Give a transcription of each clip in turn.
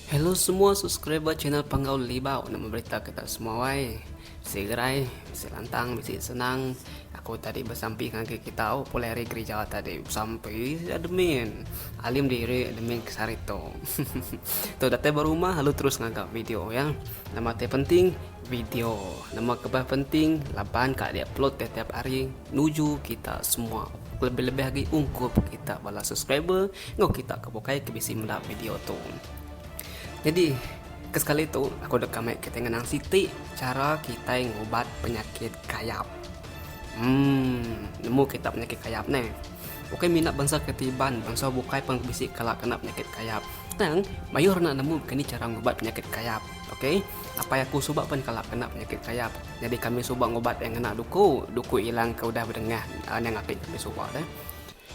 Hello semua subscriber channel Panggau Libau nak memberita kita semua wai. Bisi gerai, bisi lantang, bisi senang. Aku tadi bersampi dengan ke kita oh, pulai hari gereja tadi. Bersampi admin. Alim diri admin ke sarito. tu datang berumah lalu terus ngagap video ya. Nama te penting Video, Nama kebah penting laban ka diupload tiap-tiap hari nuju kita semua kelebih-lebih agi ungkup kita bala subscriber enggau kita ke bukai ke bisi meda video tu. Nyadi ke sekali tu aku deka mai kitai ngenang siti chara kitai ngubat penyakit kayap. Hmm, nemu kita penyakit kayap ne. Bukai minat bansa ke ti iban, bansa bukai pun bisi kala kena penyakit kayap. Tang, mayuh orang nak nemu kani chara ngubat penyakit kayap. Ok, apai aku suba pen kala kena penyakit kayap. Nyadi kami suba ngubat iya ngena duku. Duku ilang ke udah bedengah anang apit kami suba tu.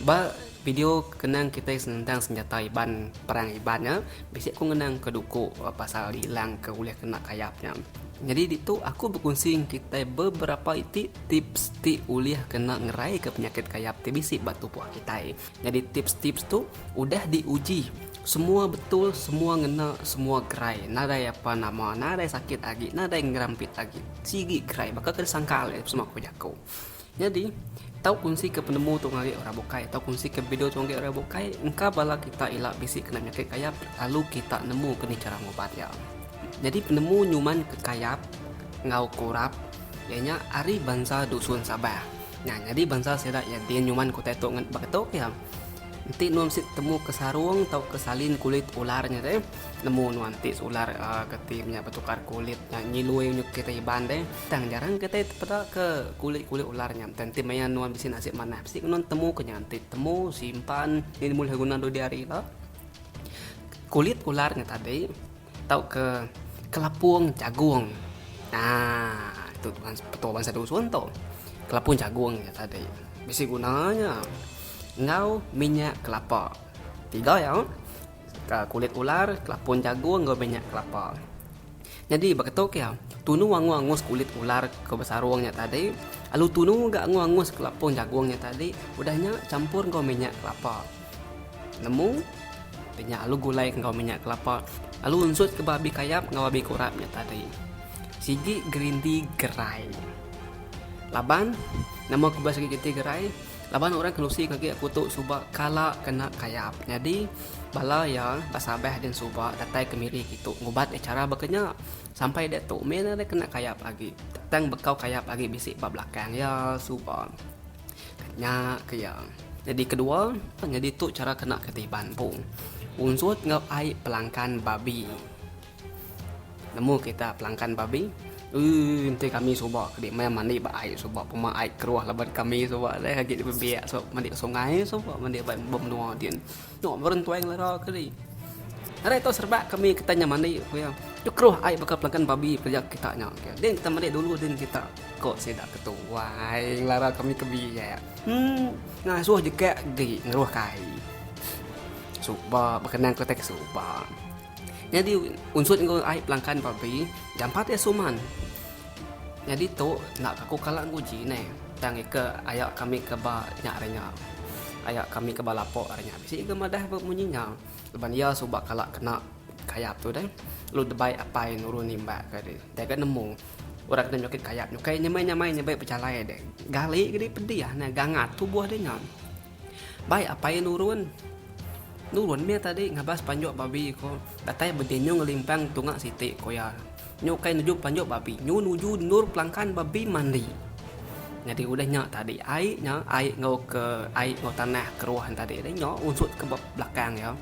Ba video kenang kitai senentang senjata Iban, perang Iban nya, bisi aku ngenang ke duku pasal diilang ke ulih kena kayap nya. Nyadi ditu aku bekunsi ngan kitai beberapa iti tips ti ulih kena ngerai ke penyakit kayap ti bisi ba tubuh kitai. Nyadi tips tips tu udah di uji semua betul semua ngena semua gerai nadai apa nama nadai sakit agi nadai ngerampit agi sigi gerai baka ke disangka alai sema ku jaku nyadi tau kunsi ke penemu tu ngagai orang bukai tau kunsi ke video tu ngagai orang bukai engka bala kita ila bisi kena nyakit kayap lalu kita nemu ke ni chara ngubat iya nyadi penemu nyuman ke kayap enggau kurap iya nya ari bansa dusun sabah. Nya nyadi bansa sida iya din nyuman kutai tu ngan baka tu pia. Enti nuan mesti temu ke sarung tauka salin kulit ular nya deh. Nemu nuan ti seular geti menya betukar kulit nya nyilui menyuk kitai Iban deh. Tang jarang kitai tepeda ke kulit-kulit ular nya. Tang enti maya nuan bisi nasib manah mesti nuan temu ke nya. Enti temu simpan nini bulih guna dua-dua hari ila. Kulit ular nya tadi. Tauka kelapung jagung. Nah, tu petua bansa dusun tu. Kelapung jagung nya tadi. Bisi guna nya. Enggau minyak kelapa. Tiga ya. Kulit ular, kelapung jagung enggau minyak kelapa. Nyadi baka tu ke, tunu angus-angus kulit ular ke besarung nya tadi, lalu tunu ga angus-angus kelapung jagung nya tadi, udah nya champur enggau minyak kelapa. Nemu, Inya alu gulai enggau minyak kelapa, alu unsut ke babi kayap enggau babi kurap nya tadi. Sigi gerindi gerai. Laban, Nama ku bela sigi gerindi gerai? Laban orang Kelusi ke agi aku tu suba kala kena kayap. Nyadi, bala iya besabeh din suba datai ke miri kitu ngubat iya chara baka nya. Sampai diatu, meh nang deh kena kayap agi. Tang bekau kayap agi bisi ba belakang iya suba. Nya ke iya. Nyadi kedua, nyadi tu chara kena ke ti Iban empu. Unsut enggau ai pelangkan babi. Nemu kita pelangkan babi? Ui, enti kami suba ke di meh mandi ba ai suba pema ai keruh laban kami suba deh agi di bebek suba mandi sungai suba mandi ba menua din. Tok berentuai ngelera keli. Hari tu serebak kami kita nya mandi ku iya. Tu keruh ai baka pelagan babi pia kita nya. Din kita mandi dulu din kita ko sida ke tu. Wai ngelera kami ke biak. Emm ngasuh jegak agi ngeruh kai. Suba bekenang ke utai ke suba. Nyadi unsut enggau ai pelangkan babi jampat iya suman. Nyadi tu enda ka ku kala nguji neh tang ika aya kami ke ba nya ari nya. Aya kami ke ba lapo ari nya bisi ga madah ba munyi nya laban iya suba kala kena kayap tu deh. Lalu debai apai nurun nimbak ka deh deh ga nemu orang kena nyukit kayap nyukai nyamai-nyamai nyamai bejalai deh. Gali ke dih pedih neh gangat tubuh deh nya. Bai apai iya nurun. Nurun mih tadi ngabas panjuk babi ko datai bedinyu ngelimpang tunga siti ko iya. Nyu ukai nuju panjuk babi nyu nuju endur pelangkan babi mandi. Nyadi udah nya tadi ai nya ai enggau ke ai enggau tanah keruh nya tadi nya unsut ke belakang iya.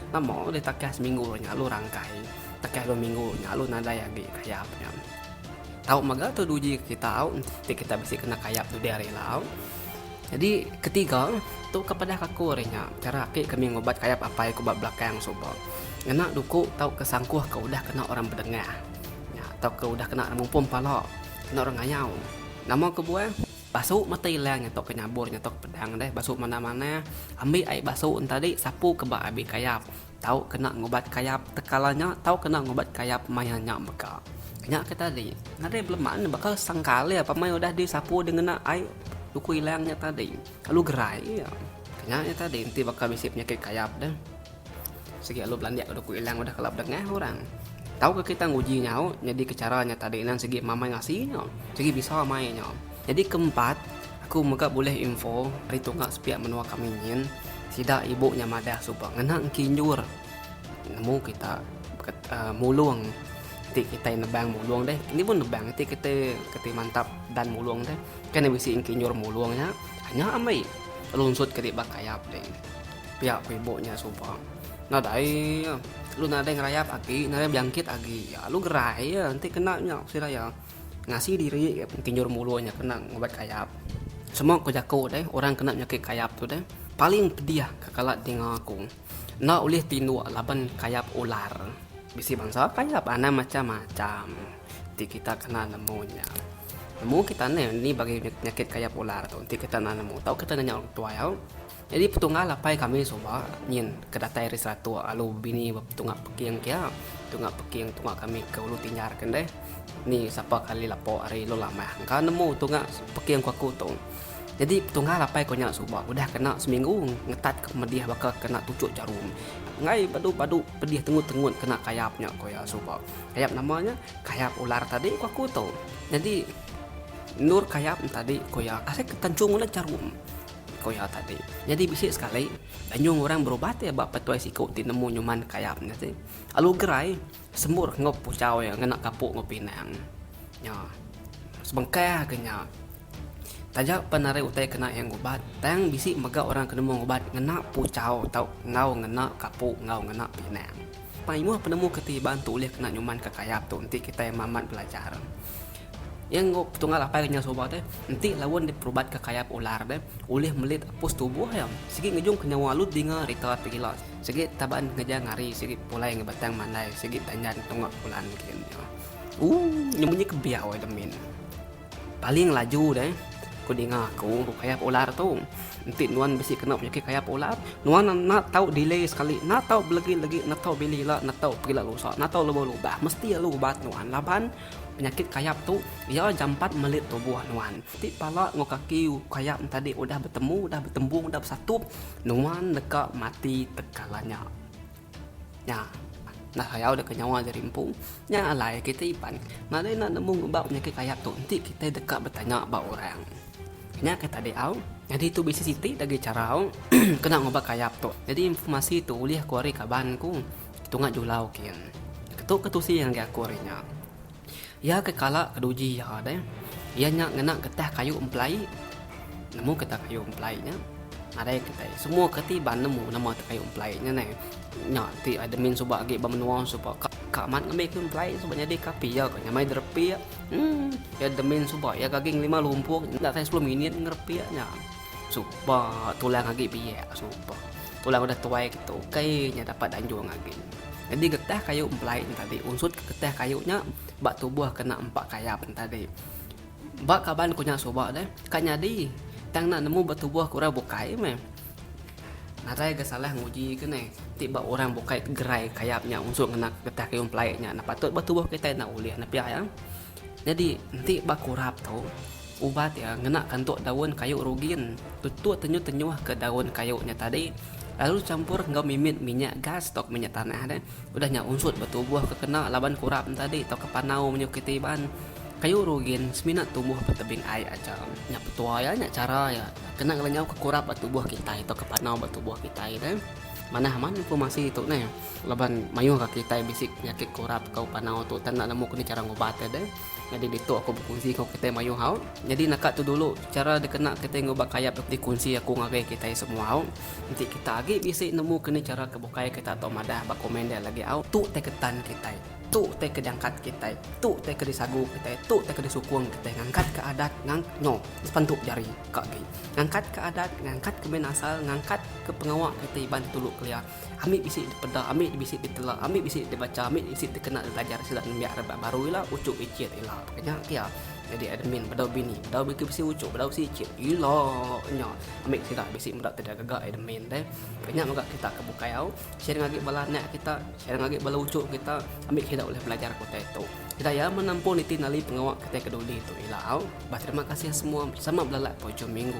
Lama udah takah seminggu nya lalu rangkai. Takah dua minggu nya lalu nadai agi kayap nya. Tau mega tu uji kita au enti kita bisi kena kayap dudi hari ila au. Nyadi ketiga, tu ke padah kaku ari nya, chara ati kami ngubat kayap apai ku ba belakang suba. Ngena duku tauka sangkuh ke udah kena orang bedengah nya tauka udah kena ngemumpung pala, kena orang ngayau. Nama kebuah, basu mata ilang nya tauka nyabur nya tauka pedang deh basu manah-manah. Ambi ai basu ntadi sapuka ba abih kayap. Tau kena ngubat kayap tekala nya tau kena ngubat kayap maya nya mega. Nya ke tadi, nadai beleman baka sangkal iya pemai udah disapu dengena ai luku ilang nya tadi. Alu gerai iya. Nya iya tadi enti baka bisi penyakit kayap deh. Sigi alu belandik ke luku ilang udah kala bedengah orang. Tau ke kita nguji nyau nyadika chara nya tadi nan sigi mamai ngasi nya, sigi bisa mai nya. Nyadi keempat. Aku mega bulih info ari tunga sepiak menua kami nyin, sida ibu nya madah suba ngena engki enjur nemu kita mulung ti kitai nebang mulung deh. Kini pun nebang ti kitai kati mantap dan mulung deh. Kai ne bisi engki enjur mulung nya, nya amai lunsutka di ba kayap deh. Pia ku ibu nya suba. Nadai lu nadai ngerayap agi nadai bejangkit agi. Alu gerai ya enti kena nya ku sida iya. Ngasi diri pentinjur mulu nya kena ngubat kayap. Semua ke jaku deh orang kena penyakit kayap tu deh paling pedih ke kala dinga aku. Enda ulih tinduk laban kayap ular. Bisi bansa kayap anang macam-macam ti kita kena nemu nya. Nemu kita neh ni bagi penyakit kayap ular tu ti kita kena nemu tau kita nanya orang tuai au. Nyadi petunggal apai kami suba nyin ke datai ari Seratok lalu bini ba Tunga Peking kia. Tunga Peking tunga kami ke Ulu Tinjar ken deh. Ni sapa kali lapo ari Lu Lamah engka nemu Tunga Peking ku aku tu. Nyadi petunggal apai ku nya suba udah kena seminggu ngetat ke pemedih baka kena tuchuk jarum. Enggai badu-badu pedih tengut-tengut kena kayap nya ku iya suba. Kayap nama nya? Kayap ular tadi ku aku tu. Nyadi endur kayap nya tadi ku iya kasih ke tanchung udah jarum. Ko iya tadi. Nyadi bisi sekali, Danyung orang berubat iya ba petuai siku ti nemu nyuman kayap nya ti. Alu gerai, sembur enggau puchau iya ngena gapu enggau pinang nya. Sebengkah agi nya, taja pen ari utai kena iya ngubat, tang bisi mega orang ke nemu ngubat ngena puchau tau enggau ngena gapu enggau ngena pinang. Mayuh penemu ke ti iban tu ulih kena nyumanka kayap tu enti kitai mamat belajar. Iya enggau petunggal apai kenyau suba te enti laun diperubat ke kayap ular be ulih melit apus tubuh iya. Sigi ngejung ke nyawa alut dinga rita pegila sigi taban ngeja ngari sigi pulai ngi batang mandai sigi tandan tunga pulan kin iya. Ooh nyau munyi ke biau ai demin. Paling laju deh ku dinga aku ku kayap ular tu. Enti nuan bisi kena penyakit kayap ular nuan enda tau delay sekali enda tau belegi legi enda tau bili ila enda tau pegila rusa enda tau leboh lubah mesti alu ubat nuan laban Penyakit kayap tu iya jampat melit tubuh nuan. Ti pala enggau kaki kayap entadi udah betemu udah betembung udah besatup nuan deka mati tekala nya. Nya enda sayau deka nyawa diri empu. Nya alai kitai iban nadai enda nemu ngubah penyakit kayap tu enti kitai deka betanya ba orang. Nya ke tadi au. Nyadi tu bisi siti agi chara au kena ngubah kayap tu. Nyadi informasi tu ulih ku ari kaban ku. Tunga Julau kin. Ketu ke tusi ngagai aku hari nya. Iya ke kala ke duji iya deh. Iya nya ngena getah kayu empelai. Nemu ke ta kayu empelai nya? Nadai kitai. Semua ke ti ba nemu nama tu kayu empelai nya neh. Nya ti admin suba agi ba menua suba ka ka amat ngambi kayu empelai suba nyadi ka api iya ke nyamai derepik. Emm. Admin suba iya ke agi ngelima lumpuk enda sampai sepuluh minit ngerepik nya. Supa tulang agi biak supa. Tulang udah tuai kita ukai nya dapat danjung agi. Jadi getah kayu empelai nya tadi unsut getah kayu nya ba tubuh kena empa kayap nya tadi. Ba kaban ku nya suba deh ka nyadi tang enda nemu ba tubuh orang bukai meh. Nadai ga salah nguji ke neh ti ba orang bukai gerai kayap nya unsut ngena getah kayu empelai nya patut ba tubuh kitai enda ulih nepia iya. Nyadi, enti ba kurap tu, ubat iya ngena kantuk daun kayu rugin tutuh tenyuh-tenyuh ke daun kayu nya tadi lalu dichampur enggau mimit minyak gas tauka minyak tanah deh. Udah nya unsut ba tubuh ke kena laban kurap nya tadi tauka panau menyuh kiti iban kayu rugin semina tumbuh ba tebing ai aja. Nya petua iya, nya chara iya kena ngelenyauka kurap ba tubuh kitai tauka panau ba tubuh kitai deh. Manah amat informasi tu neh. Laban mayuh ka kitai bisi penyakit kurap enggau panau tu udah enda nemu keni chara ngubat iya deh. Nyadi ditu aku bekunsi enggau kitai mayuh au. Nyadi naka tu dulu chara dikena kitai ngubat kayap dok dikunsi aku ngagai kitai semua au. Enti kita agi bisi nemu keni chara ke bukai kita tau madah ba komen dia lagi au. Tu utai ke tan kitai. Tu utai ke diangkat kitai. Tu utai ke disagu kitai. Tu utai ke disukung kitai ngangkat ke adat ngang nyo sepentu jari ka agi. Ngangkat ke adat, ngangkat ke min asal, ngangkat ke pengawa kitai iban ti dulu kelia. Ambi bisi dipeda, ambi bisi ditela, ambi bisi dibacha, ambi bisi dikena belajar sida nembiak rebak baru ila, uchup ichit ila. Ka nya kia. Nyadi admin bedau bini, bedau begi bisi uchup, bedau bisi ichit. Ila nya. Ambi sida bisi meda ti gaga admin deh. Ka nya mega kita ke bukai au, share ngagai bala anak kita, share ngagai bala uchup kita, ambi sida ulih belajar ke utai tu. Sida iya menempun iti nali pengawa kitai ke duli tu ila au. Bah terima kasih semua sama belalak ke ujung minggu.